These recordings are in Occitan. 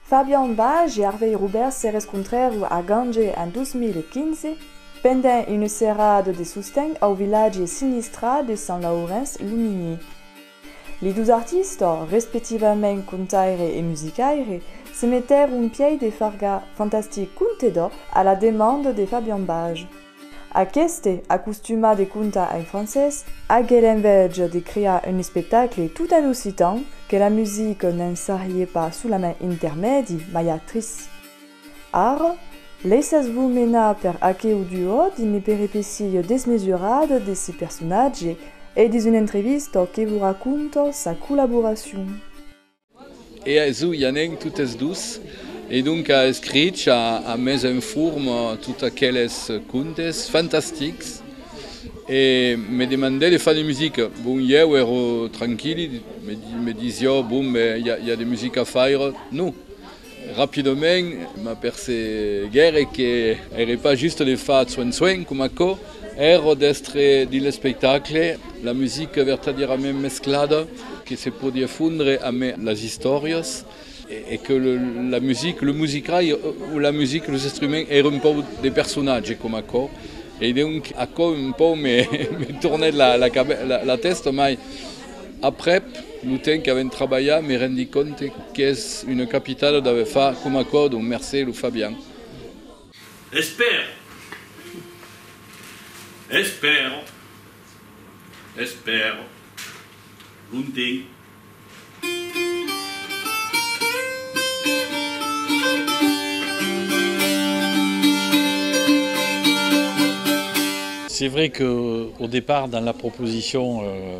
Fabian Baj e Arvei Roubèrs se rescontrèron a Gange en 2015 pendent una serada de sosten au vilatge sinistrat de Sant Laurenç lo Mini. Li dos artistas, respectivament contaire e musicaire, se metèron un pièi de farga fantastic conte d'or a la demanda de Fabian Baj. Aqueste, acostumat de contar en francés, agué l'envèja de crear un espectacle tot en occitan, que la musica ne'n sarrie pas solament intermèdi, mai actrice. Ara, laissatz-vos menar per aqueu duo d'una peripécia desmesurada desse personatge e dins una entrevista que vos raconta sa collaboracion. E aisú i anèm totes dos. E donca escrich a a mes enform tot aqueles contes fantastics e me demandè de far de musica. Bon, ieu ero tranquilli, me disiò, bon, ben, i a de musica a faire? No! Rapidament m'aperceguère que ère pas juste de far tsuèn tsuèn com aquò, èrò d'èstre dins l'espectacle, la musica vertadièrament mesclada que se podie fondre amé las istòrias e que la musica, lo musicai o la musica, los instruments ère un pauc de personatge com aquò e donc aquò un pauc me tornèt la tèsta mai Aprèp lo temps qu'avèm trabalhat me rendi compte qu'es una capitada d'aver fach coma còrdon, mercé lo Fabian. Espèr. Espèr. Espèr. Lontenc. C'est vrai que au départ dans la proposition.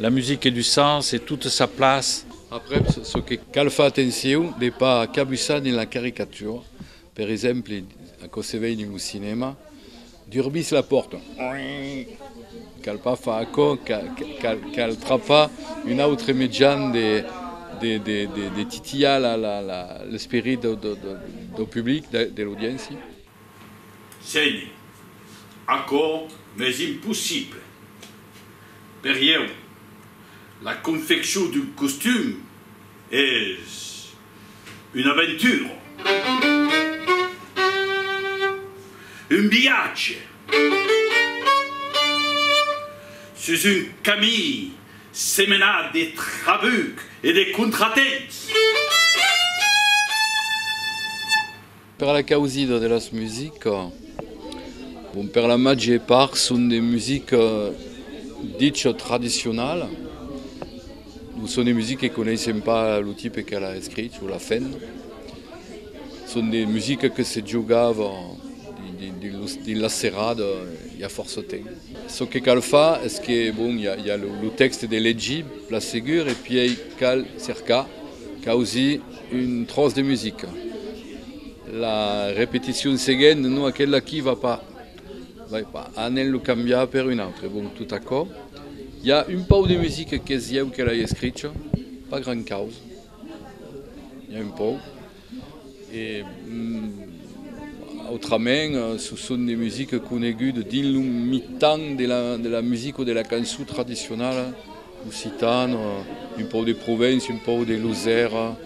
La musique du sens e toute sa place. Aprèp, çò que cal far atencion de pas cabusar dins la caricatura, per exemple, aquò se vei dins lo cinèma, durbís la pòrta, cal pas far aquò, cal trapar un autre mejan de titilhar l'esperit dau public, de l'audiéncia. Senhor, aquò m'es impossible. Per ieu, la confeccion d'un costum es una aventura, un viatge sus un camin semenat de trabucs e de contratemps. Per la causida de las musicas, bon per la màger part son de musica dicha tradicionala, non son de musica que coneissem pas lo tipe que l'a escrich o l'a fent, son de musica que se jogava dins las serradas i a fòrça temps. Çò que cal far es que bon i a lo tèxte de legir, plan segur, e pièi cal cercar, causir. Un tròç de musica. La repeticion seguent, non aquela aquí va pas. Vai pas. Anem lo cambiar per un autre. Bon, tot aquò. I a un pauc de musica qu'es ieu que l'ai escricha. Pas gran causa. I a un pauc. E autrament, çò son de musica coneguda dins lo mitan de la musica o de la cançon tradicionala. Occitan, un pauc de Provence, un pauc de Losèra,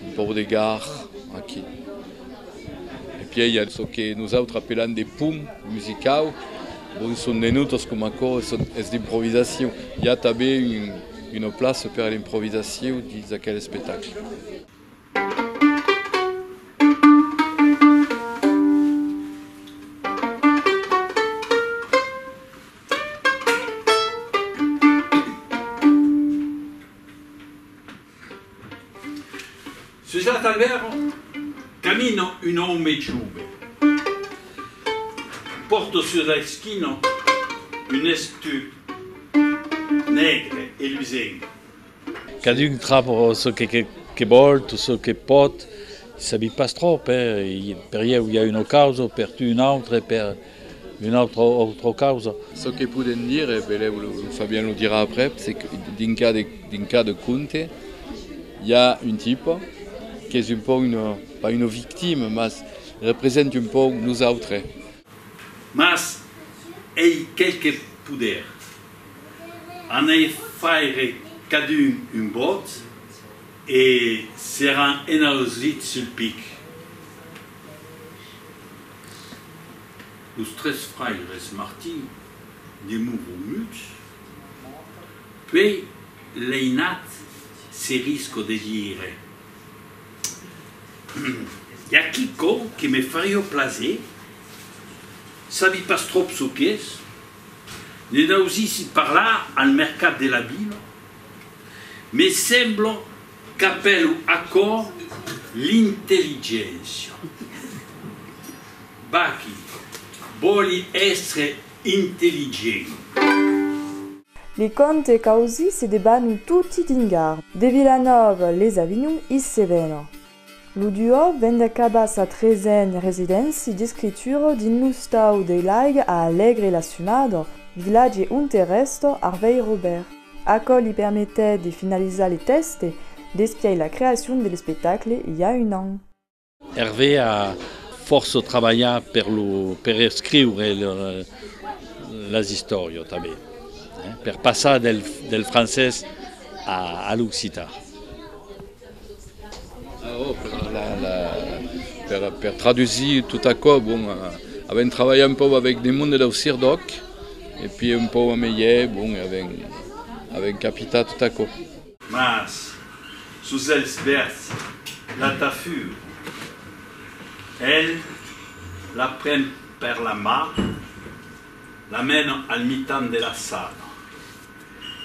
un pauc de Gar, aquí. E pièi i a çò que nosautres apelam de pum musicau, bon son de nòtas coma aquò, son es d'improvisacion. I a tanben un, una plaça per a l'improvisacion dins aquel espectacle. Sus la talvèrn camina un òme jove. Pòrta sus la esquina un estut negre e lusenc. Cadun trap çò que vòl, tot çò que pòt, sabi pas tròp, per ieu i a una causa, per tu una autra e per una autra autra causa. Çò que podèm dire, e belèu lo Fabian lo dirà aprèp, se que dins cada conte i a un tipa qu'es un pauc, pas una victima, mas representi un pauc nosautres, Mas ei quelque poder. An hèr faire cadun un vòt e seràn enauslits sul pic. Los tres fraires Martin de Mouromutz, puei l'einat se risco de dire. I a quicò que me farió plaser? Sabi pas tròp çò qu'es. Ne n'ausissi parlar al mercat de la vila. Me sembla qu'apèlo aquò l'intelligéncia. Bachi, vòli èstre intelligent. Li conte qu'ausi se debanu toti dingar. De Vilanòva les Avinhon is se vena. Lo duò ven d'acabar sa tresen residéncia d'escritura dins lo stau dei Laiga a Alègre la Sumada, vilatge onte rèsta Arvèir Robèrt. Aquò li permetèt de finalizar le tèxte despiai la creacion de l'espectacle i a un an. Hervé a fòrça trabalhat per lo per escriure las istòrias tanben, per passar del francés a l'occitan. Per tradusir tot aquò, bon, avèm trabalhat un pauc avèc de monde dau CIRDÒC e pui un pauc a melhèr, bon, avèm capitat tot aquò. Mas, sus els vèrds, la tafur. El la pren per la mà, la mena al mitan de la sala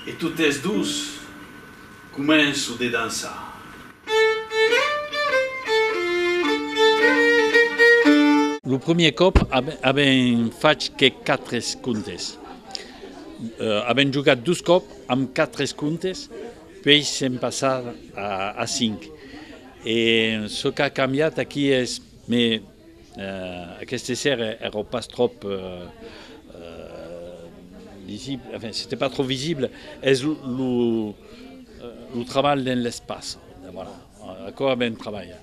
e totes dus començo de dançar. Lo premier còp avèm fach que 4 contes. Avèm jogat dus còp Amb quatre contes pei se'n passar a cinc. E çò qu'a cambiat aquí es, me aqueste ser èra pas tròp lisible, enfin c'était pas trop visible, es lo trabalh dens l'espaç, voilà, aquò a ben trabalhat.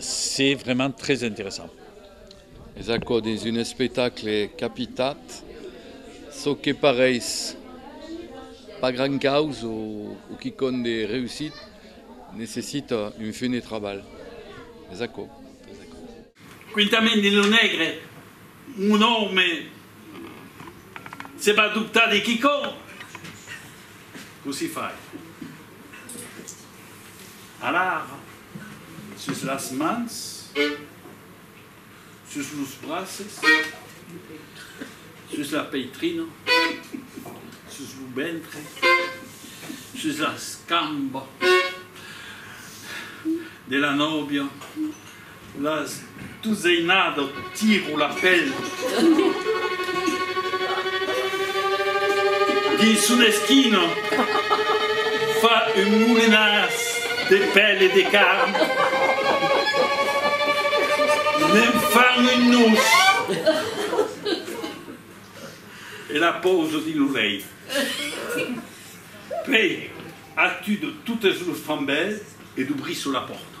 C'est vraiment très interessant. Es aquò dins un espectacle capitat, çò que parèis pas grand caus o quicòm de reusit necessita un fum de trabalh. Es aquò. Quintament de lo negre, mon òme se va dubtar de quicòm. Cossí fai. Alara, sus las mans, sus los braces, sus la peitrina, sus lo ventre, sus las cambas de la nòvia, Las duseinada tiru la pel. Dins una esquina fa un molinàs de pel e de carn. Ne'n fan un nus e la pausa dins lo lèit. Pei, a tu de totes los fambèls e dubrissu la pòrta.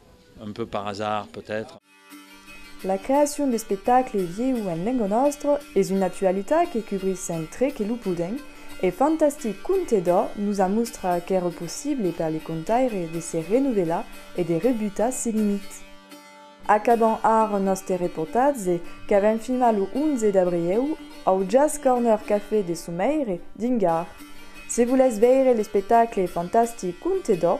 Un peu par hasard, peut-être. La creacion d'espectacle vieu en lenga nòstra es una actualitat que cubris sempre que lo podèm e Fantastic Conte d'Ò nos a mostrat qu'èra possible per le contaire de se renovelar e de rebutar se limite. Acabam ara nòste reportatge qu'avèm filmat lo 11 d'abrieu au Jazz Corner Café de Someire dins Gare. Se volètz veire l'espectacle Fantastic Conte d'Ò,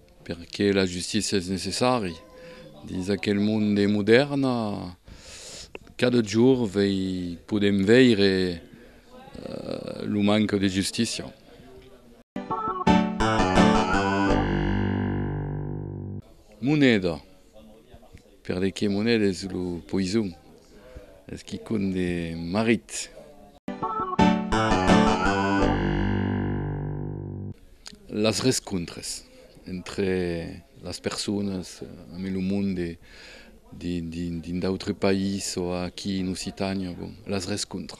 Perqué la justícia es necessari? Dins aquel monde modèrn, cada jorn podèm veire lo manca de justícia. Moneda. Per de Quemonel es lo poison. Es quicon de marit. Las rescontres entre las personas en lo monde, dins d'autres païses o aquí en Occitània, bon, las rescontres.